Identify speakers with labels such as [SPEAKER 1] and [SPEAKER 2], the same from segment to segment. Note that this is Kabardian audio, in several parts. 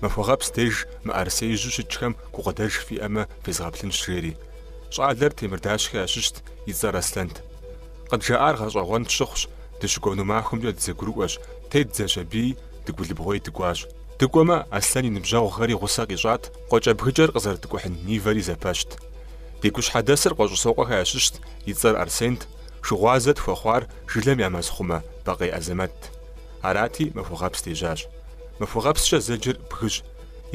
[SPEAKER 1] Махуэгъэпс деж мыӏэрысеижьу щытхэм гукъыдэж фиӏэмэ фезгъэплъынщ, жери. Щӏалэр Темырдащхэ ящыщт, и цӏэр Аслъэнт. Къыджаӏар гъэщӏэгъуэн тщыхъущ, дыщыкӏуэну махуэмкӏэ дызэгурыӏуэщ, тедзэщ аби, Дыгулыбгъуей дыкӏуащ. Дыкӏуэмэ, Аслъэн и ныбжьэгъухэри гъусэ къищӏат, къуэкӏэбгыкӏэр къызэрыткӏухьын Нивэри зэпэщт. Ди гущхьэдэсыр Къуэщӏысокъуэхэ ящыщт, и цӏэр Арсент, шыгъуазэ тхуэхъуар жылэм я мэзхъумэ Бакъей Азэмэтт. Арати, махуэгъэпс дежьащ. Махуэгъэпскӏэ зэджэр бгыщ.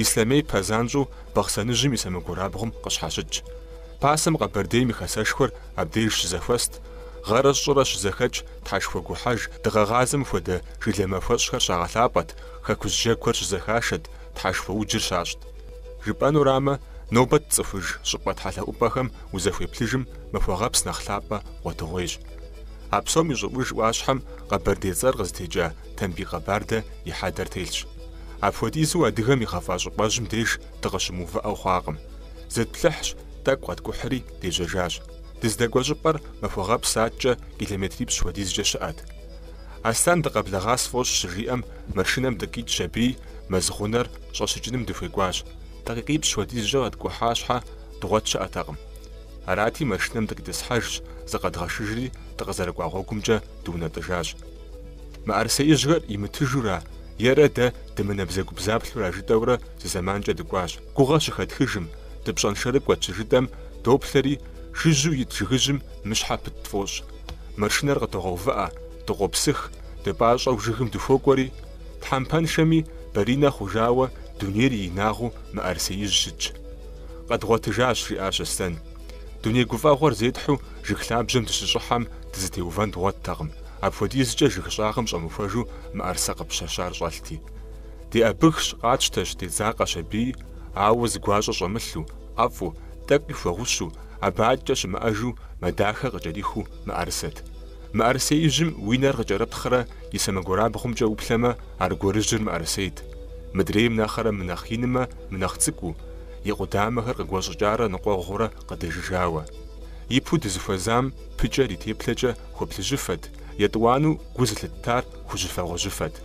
[SPEAKER 1] Ислъэмей пэзанщӏэу Бахъсэныжьым и сэмэгурабгъум къыщхьэщытщ. Пасэм Къэбэрдейм и хэсэшхуэр абдеж щызэхуэст, гъэрэ щӏырэ щызэхэкӏ тхьэшхуэгухьэж дыгъэгъазэм хуэдэ жылэ махуэщӏхэр щагъэлъапӏэт, хэкужь джэгухэр щызэхашэт, тхьэшхуэуджыр щащӏт. Жыпӏэнурамэ, нобэ тцӏыхуж щӏыпӏэ тхьэлъэӏупӏэхэм узэхуеплъыжым махуэгъэпс нэхъ лъапӏэ гъуэтыгъуейщ. А псом и щӏыӏуж ӏуащхьэм къэбэрдей цӏэр къызытекӏа Тамбий Къэбардэ и хьэдэр телъщ. Апхуэдизу адыгэм игъэфӏа щӏыпӏэжьым деж дыкъыщымыувыӏэу хъуакъым. Зытплъыхьщ, тӏэкӏу къэткӏухьри, дежьэжащ. Дыздэкӏуэ щӏыпӏэр махуэгъэпс аткӏэ километрипщӏ хуэдизкӏэ щыӏэт. Аслъэн дыкъэблэгъа сфӏощӏ щыжиӏэм, машинэм дыкъикӏщ аби, мэз гъунэр щӏэщыкӏыным дыхуекӏуащ. Дакъикъипщӏ хуэдизкӏэ къэткӏухьа щхьэ, дгъуэт щыӏэтэкъым. Арати, машинэм дыкъитӏысхьэжщ, зыкъэдгъэшыжри, дыкъызэрыкӏуа гъуэгумкӏэ дыунэтӏыжащ. Мыӏэрысеижьхэр имытыжура, ерэ дэ дымынэбзэгубзаплъура жытӏэурэ зы зэманкӏэ дыкӏуащ. Гугъэ щыхэтхыжым, дыпщӏэншэрыкӏуэт щыжытӏэм, доплъэри, жыжьэу ит жыгыжьым мыщхьэ пыт тфӏощӏ. Машинэр къыдогъэувыӏэ, дыкъопсых, дыпӏащӏэу жыгым дыхуокӏуэри, тхьэмпэншэми, баринэ хъужауэ, дунейр и инагъыу мыӏэрысеижь щытщ. Къэдгъуэтыжащ, жиӏащ Аслъэн. Дуней гуфӏэгъуэр зетхьэу жыг лъабжьэм дыщыщӏыхьэм дызытеувэн дгъуэттэкъым, апхуэдизкӏэ жыг щӏагъым щӏэмыхуэжу мыӏэрысэ къыпыщэщар щӏэлъти. Деӏэбыхщ, къатщтэщ, дедзакъэщ аби, ауэ зы гуащӏэ щӏэмылъу, ӏэфӏу, тӏэкӏуи хуэгъущу, абы аткӏэ щымыӏэжу мэ дахэ къыкӏэрихыу мыӏэрысэт. Мыӏэрысеижьым уи нэр къыкӏэрыптхърэ и сэмэгурабгъумкӏэ уплъэмэ, аргуэрыжьыр мыӏэрысейт. Мыдрейм нэхърэ мынэхъ инмэ Мынэхъ цӏыкӏуу, и къудамэхэр къыгуэщӏыкӏарэ ныкъуэгъурэ къыдэжыжауэ. Ипэу дызыхуэзам пыкӏэр и теплъэкӏэ хуэплъыжьыфэт, етӏуанэу гу зылъыттар хужьыфэ-гъуэжьыфэт.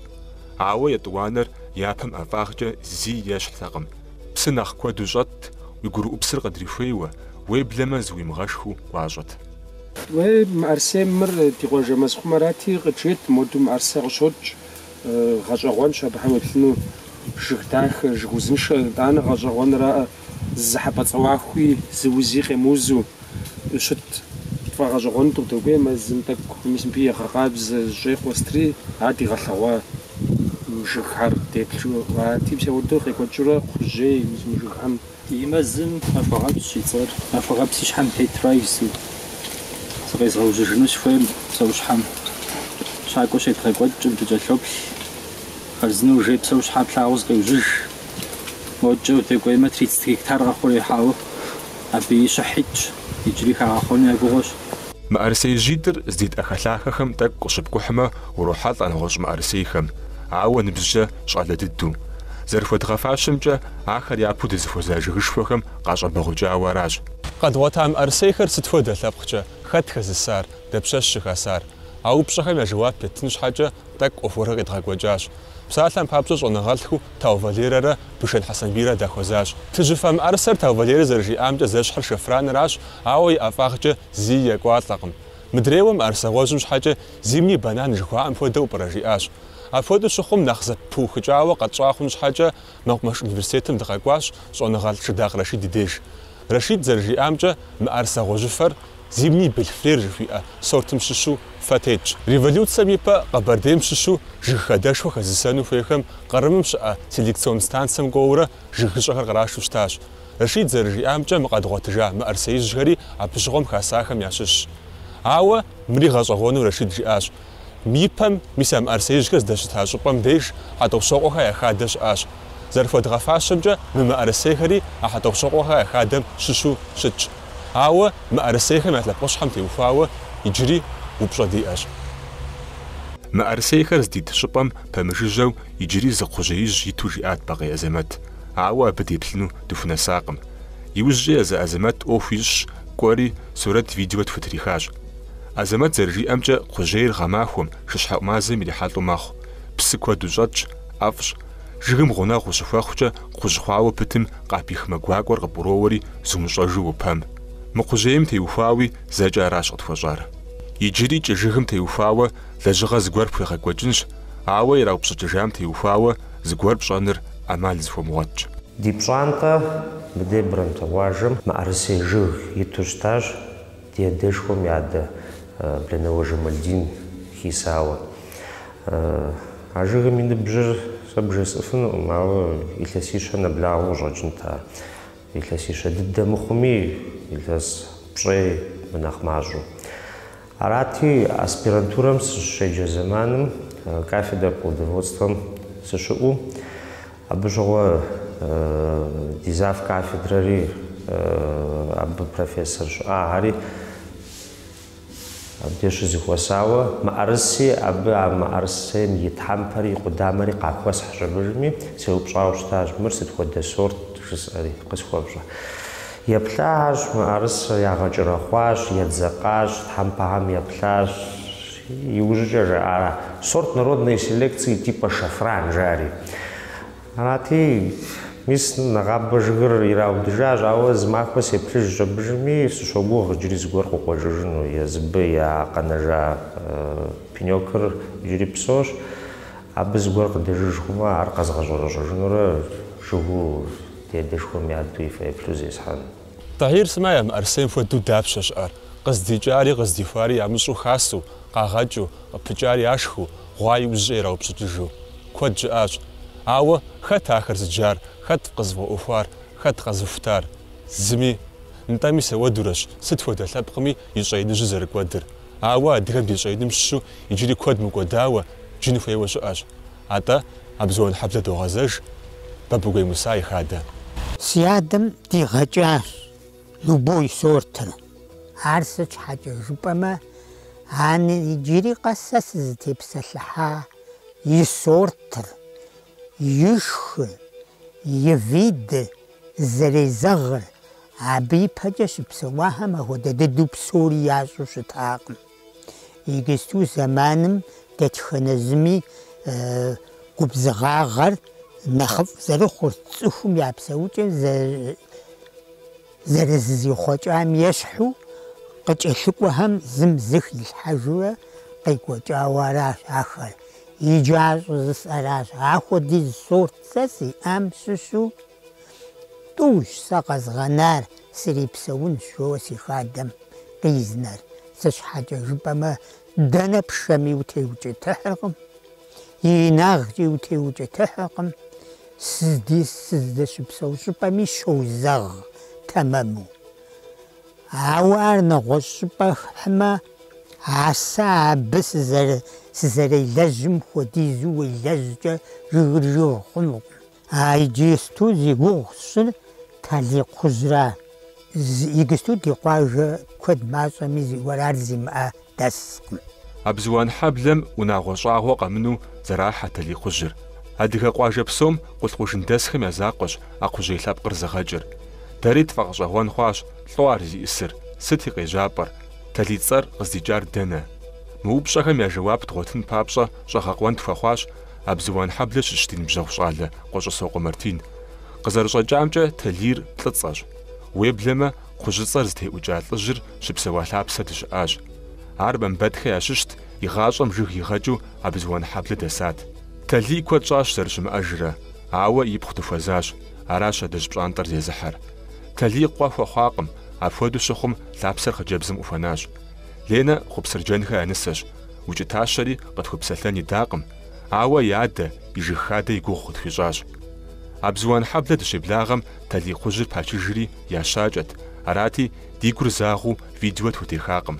[SPEAKER 1] Ауэ етӏуанэр япэм ӏэфӏагъкӏэ зи ещхьтэкъым. Псы нэхъ куэду щӏэтт, уи гурыӏупсыр къыдрихуейуэ, уеблэмэ зыуимыгъэшхыу гуащӏэт. Уей,
[SPEAKER 2] мыӏэрысей мыр ди къуажэ мэзхъумэрати, къыджет, моду мыӏэрысэ къыщокӏ, Гъэщӏэгъуэнщ абыхэм уеплъыну жыг дахэ, жыг узыншэ. Итӏанэ гъэщӏэгъуэнракъэ, зы хьэпӏацӏэ ӏуэхуи, зы узи къемыузу щыт тфӏэгъэщӏэгъуэну дыдокӏуей. Мэзым тӏэкӏу мис мыбы егъэкъабзэ щӏей къуэстрий, ар дигъэлъэгъуа жыгхэр деплъу. А типсэ уэрду къекӏуэкӏыурэ кхъужьей мис мы жыгхэм. И
[SPEAKER 3] мэзым Махуэгъэпсщ и цӏэр, Махуэгъэпс и щхьэм тетращ. Зыкъезгъэужьыжыну сыхуейм псэущхьэм. Щакӏуэ щедгъэкӏуэкӏкъым, дыкӏэлъоплъ. Хъарзынэу жей псэущхьэ плъагъуу зыкъеужьыж. Модкӏэ удекӏуеймэ, тридцэт гектар къэхъуреихьауэ абы щыхь итщ, иджыри хагъэхъуэну я гугъуэщ.
[SPEAKER 1] Мыӏэрысеижьитӏыр здит ӏэхэлъахэхэм тӏэкӏу къыщыпкӏухьмэ, урохьэлӏэ нэгъуэщӏ мыӏэрысейхэм, ауэ ныбжькӏэ щӏалэ дыдэу. Зэрыхуэдгъэфащэмкӏэ, Ахэр япэу дызыхуэза жыгышхуэхэм къащӏэбэгъукӏауэ аращ. Къэдгъуэта мыӏэрысейхэр сыт хуэдэ лъэпкъкӏэ, хэт хэзысар, дапщэщ щыхасар? А упщӏэхэм я жэуап еттын щхьэкӏэ тӏэкӏу ӏуэхугъуэхэр къедгъэкӏуэкӏащ. Псалъэм папщӏэ щӏэныгъэлӏхэу Тау Валерэрэ Бышэн Хьэсэнбийрэ дахуэзащ. Плъыжьыфэ мыӏэрысэр Тау Валерэ зэрыжиӏамкӏэ зэщхьыр шэфраныращ, ауэ и ӏэфӏагъкӏэ зыи екӏуалӏэкъым. Мыдрейуэ мыӏэрысэ гъуэжьым щхьэкӏэ зимний банан жыхуаӏэм хуэдэу пӏэрэ жиӏащ. Апхуэдэу щыхъум нэхъ зэпыухыкӏауэ къэтщӏа хъун щхьэкӏэ Мэкъумэш университетым дыкъэкӏуащ щӏэныгъэлӏ Шыдакъ Рашид и деж. Рашид зэрыжиӏамкӏэ, мыӏэрысэ гъуэжьыфэр Зимний бельфлер жыхуиӏэ сортым щыщу фэ тетщ. Революцэм ипэ Къэбэрдейм щыщу жыг хадэшхуэ хэзысэну хуейхэм Кърымым щыӏэ селекцион станцэм кӏуэурэ жыгыщӏэхэр кърашу щытащ. Рашид зэрыжиӏамкӏэ, мы къэдгъуэтыжа мыӏэрысеижьхэри абы щыгъуэм хасахэм ящыщщ. Ауэ мыри гъэщӏэгъуэну Рашид жиӏащ. Ипэм, мис а мыӏэрысеижьхэр здэщыта щӏыпӏэм деж Хьэтӏохъущокъуэхэ я хадэ щыӏащ. Зэрыхуэдгъэфащэмкӏэ, мы мыӏэрысейхэри а Хьэтӏохъущокъуэхэ я хадэм щыщу щытщ. Ауэ мыӏэрысейхэм я лъэпкъыщхьэм теухуауэ иджыри упщӏэ диӏэщ. Мыӏэрысейхэр здит щӏыпӏэм пэмыжыжьэу иджыри зы кхъужьеижь иту жиӏат Бакъей Азэмэт. Ауэ абы деплъыну дыхунэсакъым. Иужькӏэ езы Азэмэт ӏуэху ищӏщ, кӏуэри, сурэт-видео тхутрихащ. Азэмэт зэрыжиӏэмкӏэ, кхъужьейр гъэмахуэм, шыщхьэӏу мазэм ирихьэлӏэу мэхъу. Псы куэду щӏэтщ, ӏэфӏщ. Жыгым гъунэгъу ущыхуэхъукӏэ, кхъужь хъуауэ пытым къапих мэ гуакӏуэр къыпӏуроуэри, зумыщӏэжу уопэм. Мы кхъужьейм теухуауи, зэкӏэ аращ къытхуэщӏар. Иджыри кӏы жыгым теухуауэ, лэжьыгъэ зыгуэр пхуегъэкӏуэкӏынщ, ауэ ираупщӏыкӏыжам теухуауэ, зыгуэр пщӏэныр ӏэмал зыхуэмыгъуэтщ. Ди пщӏантӏэ
[SPEAKER 4] мыдебрэм, тыгъуажэм, мыӏэрысей жыг иту щытащ. Ди адэшхуэм и адэ Бланэуэ Жамальдин хисауэ. А жыгым и ныбжьыр сэ бжесӏыфынукъым, ауэ илъэсищэ нэблагъэу къыщӏэкӏынт ар. Илъэсищэ дыдэ мыхъуми, илъэс пщӏей мынэхъ мащӏэу. Арати, аспирантурэм сыщеджэ зэманым кафедрэ плодоводствэм сыщыӏэу, Абы щыгъуэ ди завкафедрэри абы профессор щыӏахэри, абдеж щызыхуэсауэ, мыӏэрыси, абы а мыӏэрысейм и тхьэмпэри и къудамэри къахуэсхь щӏэбыжми, сеупщӏауэ щытащ, мыр сыт хуэдэ сорт жысӏэри, къысхуэфщӏэ. Еплъахэщ, мыӏэрысэр ягъэкӏэрэхъуащ, едзэкъащ, тхьэмпэхэм еплъащ. Иужькӏэ жаӏара, сорт народной селекции типа шафран жари. Арати, мис нэгъабэ жыгыр ираудыжащ, ауэ зы махуэ сеплъыж щӏэбыжми, сыщогугъ иджыри зыгуэр къыкъуэжыжыну, езыбы я къэнэжа пенёкыр иджыри псощ, абы зыгуэр къыдэжыж хъумэ, ар къэзгъэщӏэрэщӏэжынурэ жыгу ди адэшхуэм я адэу и фэеплъу зесхьэну. Тӏэхьир сымэ
[SPEAKER 1] я мыӏэрысейм хуэдэу дапщэ щыӏэр? Къыздикӏари къыздихуари ямыщӏу хасэу, къагъэкӏыу, къыпыкӏари яшхыу, гъуа иужькӏэ ираупщӏыкӏыжу. Куэд щыӏащ. Ауэ хэт ахэр зыджар, хэт къызыфӏэӏуэхуар, хэт къэзыхутар? Зыми. Нтӏэ мис ахуэдурэщ сыт хуэдэ лъэпкъми и щӏэиныжьыр зэрыкӏуэдыр. Ауэ адыгэм ди щӏэиным щыщу иджыри куэд мыкӏуэдауэ, джын хуейуэ щыӏэщ. Атӏэ, Абзуанхьэблэ догъэзэж Бабыгуей Муса и хадэ. Си адэм
[SPEAKER 5] дигъэкӏащ. Любой сортыр. Ар сыт щхьэкӏэ жыпӏэмэ, ан иджыри къэс сэ сызытепсэлъыхьа и сортыр, и шхыр, и видыр, зэрезэгъыр, абы ипэкӏэ щыпсэуахэм ахуэдэ дыдэу псори ящӏу щытакъым. Иджысту зэманым дэтхэнэ зыми губзыгъагъэр нэхъыфӏ зэрыхъур, цӏыхум я псэукӏэм зэрызызихъуэкӏам ещхьу, къыкӏэлъыкӏуэхэм зым зы хилъхьэжурэ къекӏуэкӏауэ аращ ахэр. Иджы ар щӏызысӏэращ. Ахуэдиз сорт сэ сиӏам щыщу. Тӏущ сэ къэзгъэнар, срипсэунщ, жоуэ си хадэм къизнэр. Сыт щхьэкӏэ жыпӏэмэ, дэнэ пшэми утеукӏытыхьыркъым, и инагъкӏи утеукӏытыхьыркъым, сыздэщыпсэу щӏыпӏэми щозэгъ тэмэму. Ауэ ар нэгъуэщӏ щӏыпӏэ пхьымэ, а сэ абы сызэрелэжьым хуэдизу уелэжькӏэ жыгыр жыг хъунукъым. А иджысту зи гугъу сщӏыр таликхъужьра. Игысту ди къуажэ куэд мащӏэми зыгуэр ар зимыӏэ дэскъым. Абзуан
[SPEAKER 1] хьэблэм унагъуэ щӏагъуэ къэмыну зэрахьэ таликхъужьыр. Адыгэ къуажэ псом Къулъкъужын дэсхэм я закъуэщ а кхъужьей лъэпкъыр зыгъэкӏыр. Дэри тфӏэгъэщӏэгъуэн хъуащ лӏо ар зиӏысыр, сыт и къежьапӏэр, Талий цӏэр къыздикӏар дэнэ? Мы упщӏэхэм я жэуап дгъуэтын папщӏэ щӏэгъэкъуэн тхуэхъуащ Абзыуанхьэблэ щыщ ди ныбжьэгъу щӏалэ Къуэщӏысокъуэ Мартин. Къызэрыщӏэкӏамкӏэ, Талийр лӏыцӏэщ. Уеблэмэ, кхъужьыцӏэр зытеӏукӏа лӏыжьыр щыпсэуа лъапсэ дыщыӏащ. Ар Мамбэтхэ ящыщт, и гъащӏэм жыг игъэкӏыу Абзыуанхьэблэ дэсат. Талий куэд щӏащ зэрыщымыӏэжрэ, ауэ ипхъу дыхуэзащ, аращ адэжь пщӏантӏэр зезыхьэр. Талий къуэ хуэхъуакъым, апхуэдэу щыхъум, лъапсэр хъыджэбзым къыхуэнащ. Ленэ Хъупсырджэнхэ я нысэщ, Укӏытащэри къытхуэпсэлъэн идакъым, ауэ и адэ, и жыг хадэ и гугъу къытхуищӏащ. Абзуанхьэблэ дыщеблагъэм Талий кхъужьыр пачыжри ящакӏэт, арати, ди гур загъэу видео тхутехакъым.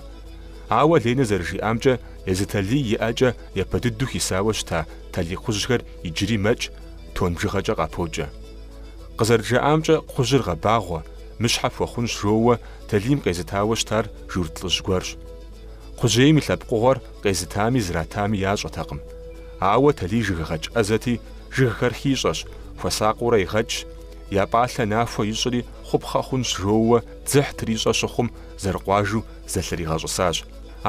[SPEAKER 1] Ауэ Ленэ зэрыжиӏамкӏэ, езы Талий и ӏэкӏэ япэ дыдэу хисауэ щыта Талий кхъужьхэр иджыри мэкӏ, тон бжыгъэкӏэ къапокӏэ. Къызэрыджаӏамкӏэ, кхъужьыр гъэбагъуэ, мыщхьэ пхуэхъунщ жоуэ Талийм къезытауэ щытар журт лӏыжь гуэрщ. Кхъужьейм и лъэпкъыгъуэр къезытами зратами ящӏэтэкъым. Ауэ Талий жыггъэкӏ ӏэзэти, жыгхэр хищӏэщ, хуэсакъыурэ игъэкӏщ, я пӏалъэ нахуэ ищӏри хъупхъэ хъунщ жоуэ дзыхь трищӏэ щыхъум зэрыкъуажу зэлъригъэщӏысащ.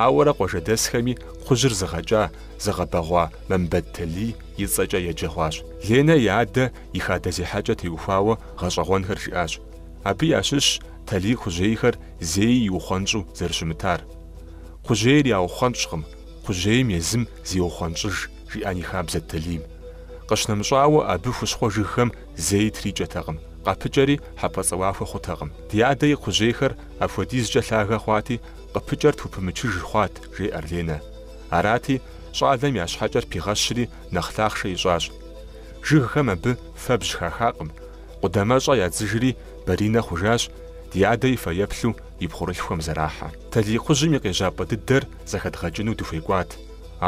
[SPEAKER 1] Ауэрэ къуажэдэсхэми кхъужьыр зыгъэкӏа, зыгъэбэгъуа Мамбэт Талий и цӏэкӏэ еджэ хъуащ. Ленэ и адэ и хадэ зехьэкӏэ теухуауэ гъэщӏэгъуэнхэр жиӏащ. Абы ящыщщ Талий кхъужьейхэр зэи иухъуэнщӏу зэрыщымытар. Кхъужьейр яухъуэнщӏкъым, кхъужьейм езым зеухъуэнщӏыж, жиӏэн и хабзэт Талийм. Къыщнэмыщӏауэ, абы хущхъуэ жыгхэм зэи трикӏэтэкъым, къапыкӏэри хьэпӏэцӏэуахуэ хъутэкъым. Ди адэ и кхъужьейхэр апхуэдизкӏэ лъагэ хъуати, къыпыкӏэр тхупымычыж хъуат, жеӏэр Ленэ. Арати, щӏалэм я щхьэкӏэр пигъэщри нэхъ лъахъшэ ищӏащ. Жыгхэм абы фэбжь хахакъым. Къудамэщӏэ ядзыжри баринэ хъужащ, ди адэ и фэеплъу и пхъурылъхухэм зэрахьэ. Таликхъужьым и къежьапӏэ дыдэр зэхэдгъэкӏыну дыхуекӏуат,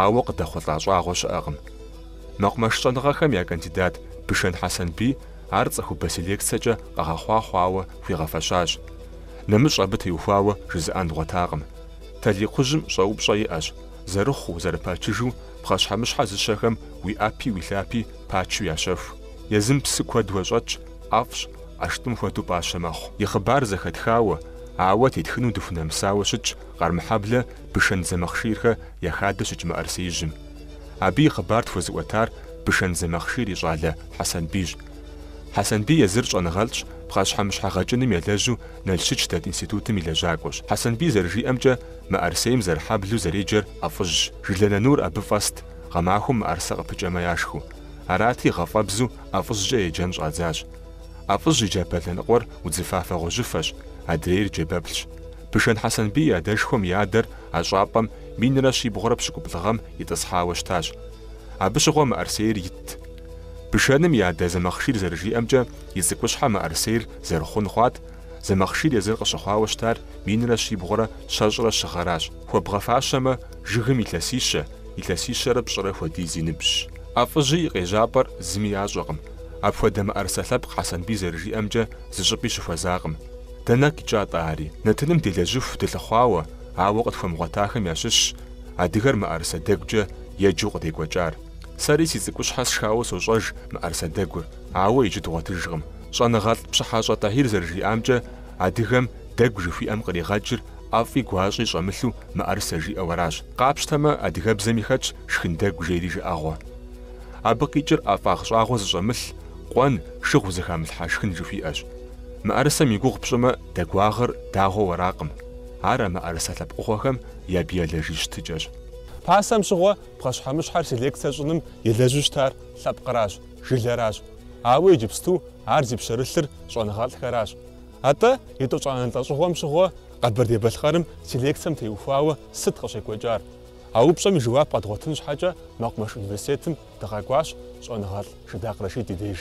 [SPEAKER 1] ауэ къыдэхъулӏа щӏагъуэ щыӏэкъым. Мэкъумэш щӏэныгъэхэм я кандидат Бышэн Хьэсэнбий ар цӏыхубэ селекцэкӏэ къэгъэхъуа хъуауэ хуигъэфэщащ. Нэмыщӏ абы теухуауэ жызыӏэн дгъуэтакъым. Таликхъужьым щӏэупщӏэ иӏэщ, зэрыхъуу, зэрыпачыжу пхъэщхьэмыщхьэ зыщэхэм уи ӏэпи уи лъапи Пачу ящэху. Езым псы куэду щӏэтщ, ӏэфӏщ, ӏэштӏым хуэдэу пӏащэ мэхъу. И хъыбар зэхэтхауэ, ауэ тетхыну дыхунэмысауэ щытщ Къармэхьэблэ Бышэн Зэмахъширхэ я хадэ щыкӏ мыӏэрысеижьым. Абы и хъыбар тхуэзыӏуэтар Бышэн Зэмахъшир и щӏалэ Хьэсэнбийщ. Хьэсэнбий езыр щӏэныгъэлӏщ, пхъэщхьэмыщхьэ гъэкӏыным елэжьу Налщыч дэт институтым и лэжьакӏуэщ. Хьэсэнбий зэрыжиӏэмкӏэ, мыӏэрысейм зэрыхьэблу зэреджэр ӏэфӏыжьщ. Жылэ нанур абы фӏэст. Гъэмахуэм мыӏэрысэ къыпыкӏэмэ яшхыу. Арати, гъэфӏэбзу ӏэфӏыжькӏэ еджэн щӏадзащ. ӏэфӏыжь и джабэ лъэныкъуэр удзыфафэ-гъуэжьыфэщ, адрейр джэбэплъщ. Бышэн Хьэсэнбий и адэшхуэм и адэр а щӏапӏэм минрэ щибгъурэ пщыкӏуплӏ гъэм итӏысхьауэ щытащ. Абы щыгъуэ мыӏэрысейр итт. Бышэным и адэ Зэмахъшир зэрыжиӏэмкӏэ, и цӏыкӏущхьэ мыӏэрысейр зэрыхъун хъуат, Зэмахъшир езыр къыщыхъуауэ щытар минрэ щибгъурэ щэщӏрэ щы гъэращ. Хуэбгъэфащэмэ, жыгым илъэсищэ, илъэсищэрэ пщӏырэ хуэдиз и ныбжьщ. ӏэфӏыжь и къежьапӏэр зыми ящӏэкъым. Апхуэдэ мыӏэрысэ лъэпкъ Хьэсэнбий зэрыжиӏэмкӏэ зыщӏыпӏи щыхуэзакъым. Дэнэ къикӏа-тӏэ ари? Нэтыным делэжьыху дылъыхъуауэ, ауэ къытхуэмыгъуэтахэм ящыщщ адыгэр мыӏэрысэ дэгукӏэ еджэу къыдекӏуэкӏар. Сэри си цӏыкӏущхьэ сшхауэ сощӏэж мыӏэрысэ дэгур. Ауэ иджы дгъуэтыжкъым. Щӏэныгъэлӏ Пщыхьэщӏэ Тӏэхьир зэрыжиӏамкӏэ, адыгэм дэгу жыхуиӏэм къригъэкӏыр ӏэфӏи гуащӏи щӏэмылъу мыӏэрысэ жиӏэу аращ. Къапщтэмэ, адыгэбзэми хэтщ шхын дэгу жери жыӏэгъуэ. Абы къикӏыр ӏэфӏагъ щӏагъуэ зыщӏэмылъ, къуэн, шыгъу зыхамылъхьа шхын жыхуиӏэщ. Мыӏэрысэм и гугъу пщӏымэ, дэгуагъыр дагъуэу аракъым. Ар а мыӏэрысэ лъэпкъыгъуэхэм я биологие щытыкӏэщ. Пасэм щыгъуэ,
[SPEAKER 2] пхъэщхьэмыщхьэр селекцэ щӏыным елэжьу щытар лъэпкъыращ. Жылэращ. Ауэ иджыпсту ар зи пщэрылъыр щӏэныгъэлӏхэращ. Атӏэ, етӏощӏанэ лӏэщӏыгъуэм щыгъуэ Къэбэрдей-Балъкъэрым селекцэм теухуауэ сыт къыщекӏуэкӏар? А упщӏэм и жэуап къэдгъуэтын щхьэкӏэ мэкъумэш университетым дыкъэкӏуащ щӏэныгъэлӏ Шыдакъ Рэшид и деж.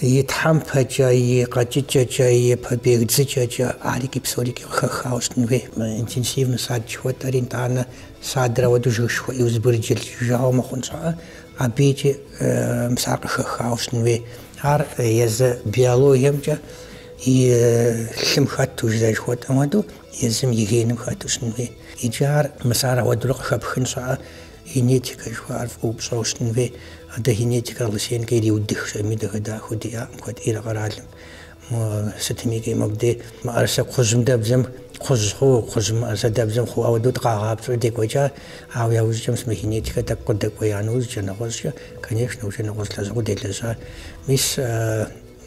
[SPEAKER 5] И тхьэмпэкӏэ, и къэкӏыкӏэкӏэ, и побег дзыкӏэкӏэ арики псорики къыхэхауэ щытын хуей. Интенсивнэ сад жыхуэтӏэри, нтӏанэ садрэ ауэдэу жыгышхуэ иузбырджылт жыжауэ мыхъун щхьэкӏэ, абыкӏи мис ар къыхэхауэ щытын хуей. Ар езы биологиемкӏэ и лъым хэту, жызэрыжыхуэтӏэм хуэдэу, езым и геным хэту щытын хуей. Иджы ар мис ар ауэдэурэ къыхэпхын щхьэкӏэ. Генетикэ жыхуаӏэр фӏыуэ пщӏэу щытын хуей. А дэ генетикэр Лысенкэ ириудых, щӏэми дахэ-дахэу диӏакъым куэд ӏейрэ къэралым. Мо сытмики мобдей мыӏэрысэ кхъужьым дэбзэм кхъужь хъу, кхъужь мыӏэрысэ дэбзэм хъу ауэдэу дыкъагъапцӏэу декӏуэкӏа, ауэ яужкӏэ мис мы генетикэр тӏэкӏу къыдэкӏуея нэужькӏэ, нэгъуэщӏкӏэ, конечно, уже нэгъуэщӏ лэжьыгъэу делэжьа. Мис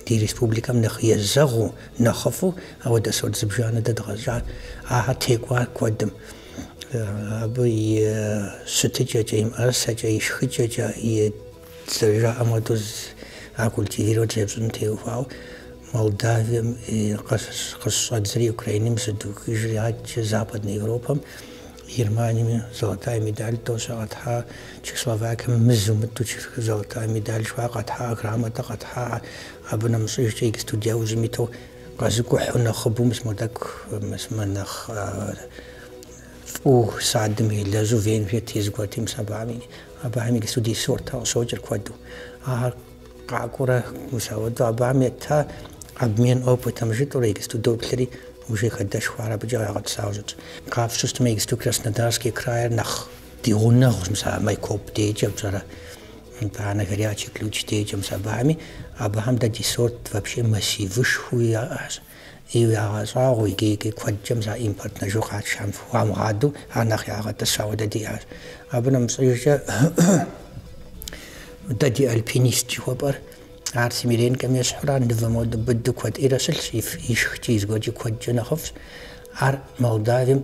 [SPEAKER 5] ди республикэм нэхъ езэгъыу, нэхъыфӏу ауэдэ сорт зыбжанэ дэ къэдгъэщӏар, ахэр текӏуар куэдым. Абы и щытыкӏэкӏэ, и мыӏэрысэкӏэ, и шхыкӏэкӏэ, и зэрыжаӏэм хуэдэу ар культивировать зэрыпщӏын теухуауэ Молдавием къыщыщӏэдзри, Украинэм щыдухыжри, адэкӏэ Западнэ Европэм, Германием золотая медаль тоже къэтхьа, Чехословакием мызу мытӏу золотая медаль жыхуаӏэ къэтхьа, грамотэ къэтхьа, абы нэмыщӏыжкӏэ иджыпсту ди ужьым иту Къэзыкӏухьу нэхъыбэу мис мо тӏэкӏу, мис мы нэхъ фӏыу садым елэжьу Венгрие тезыгуэрти, мис абыхэми, абыхэми иджыпсту ди сорта къыщокӏыр куэду. Ахэр къакӏуэрэ, мис ауэдэу абыхэм ета обмен опытым жытӏэурэ иджыпсту доплъри уже хадэшхуэ ар абыкӏэ къагъэтӏысауэ щытщ. Къапщту щытмэ, иджыпсту Краснодарский крайр нэхъ ди гъунэгъущ, мис а Майкоп дежкӏэ пщӏэрэ. Итӏанэ Горячий Ключ дежкӏэ мис абыхэми, абыхэм дэ ди сорт вообще массивышхуи яӏэщ. И ягъэщӏагъуэу икӏи-икӏи куэдкӏэм за импортнэ жыг къатшам хуамыгъадэу ар нэхъ ягъэтӏысауэ дэ диӏащ. Абы нэмыщӏыжкӏэ дэ ди альпинист жыхуэпӏэр ар Семиренкэм ещхьурэ, мывэм хуэдэу быду куэд ӏейрэ щылъщ, и шхыкӏи, и зыгуэркӏи куэдкӏэ нэхъыфӏщ. Ар Молдавием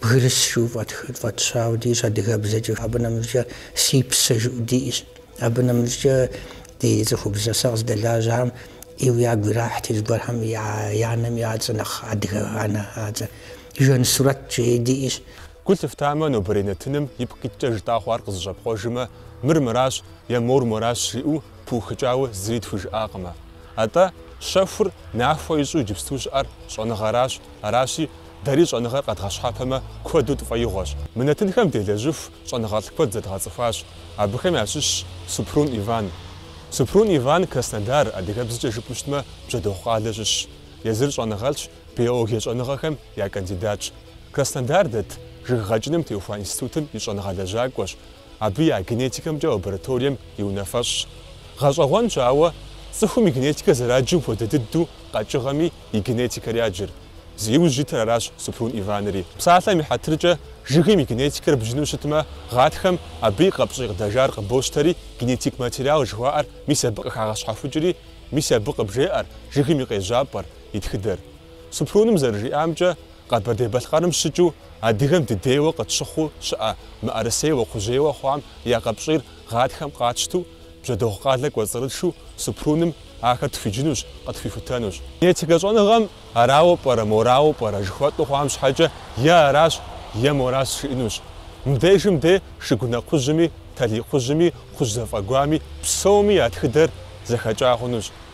[SPEAKER 5] Бгырыс жыӏэу фӏэтщауэ диӏэщ адыгэбзэкӏэ, абы нэмыщӏкӏэ Си псэ жыӏэу диӏэщ. Абы нэмыщӏкӏэ ди цӏыхубзэ сэ къыздэлажьэхэм ӏейуэ ягу ирахьти, зыгуэрхэм я анэм я цӏэ нэхъ адыгэ анэ а цӏэ. Жансурэт жеи диӏэщ. Гу
[SPEAKER 1] лъыфтамэ, нобэрей нэтыным ипкъ иткӏэ жытӏа хъуар къызэщӏэпкъуэжмэ, мыр мыращ е мор моращ жриӏэу пыухыкӏауэ зыри тхужыӏакъымэ. Атӏэ, щэхур нахуэ ищӏу иджыпсту щыӏэр щӏэныгъэращ, аращи, Дэри щӏэныгъэр къэдгъэщхьэпэмэ, куэду тфӏэигъуэщ. Мы нэтынхэм делэжьыху щӏэныгъэлӏ куэд зэдгъэцӏыхуащ. Абыхэм ящыщщ Супрун Иван. Супрун Иван, Краснодар, адыгэбзэкӏэ жыпӏэу щытмэ, Бжьэдыгъу къалэ щыщщ. Езыр щӏэныгъэлӏщ, биологие щӏэныгъэхэм я кандидатщ. Краснодар дэт, жыг гъэкӏыным теухуа институтым и щӏэныгъэлэжьакӏуэщ. Абы я генетикэмкӏэ лабораторием и унафэщӏщ. Гъэщӏэгъуэнщ, ауэ цӏыхум и генетикэр зэраджым хуэдэ дыдэу къэкӏыгъэми и генетикэр яджыр. Зи иужь итыр аращ Супрун Иванри. Псалъэм и хьэтыркӏэ, жыгым и генетикэр бджыну щытмэ, гъатхэм абы и къэпщӏий къыдэжар къыбощтэри, генетик материал жыхуаӏэр мис абы къыхагъэщхьэхукӏри, мис абы къыбжеӏэр, жыгым и къежьапӏэр, и тхыдэр. Супруным зэрыжиӏамкӏэ, Къэбэрдей-Балъкъэрым щыкӏыу адыгэм дыдейуэ къытщыхъуу щыӏэ мыӏэрысейуэ кхъужьейуэ хъуам я къэпщӏийр гъатхэм къатщту, Бжьэдыгъу къалэ кӏуэцӏрытшу Супруным ахэр тхуиджынущ, къытхуихутэнущ. Генетикэ щӏэныгъэм арауэ пӏэрэ, морауэ пӏэрэ жыхуэтӏу хъуам щхьэкӏэ е аращ, е моращ жиӏэнущ. Мыбдежым де Шыгунэ кхъужьми, Талий кхъужьми, кхъужь зэфӏэгуами, псоми я тхыдэр зэхэкӏа хъунущ.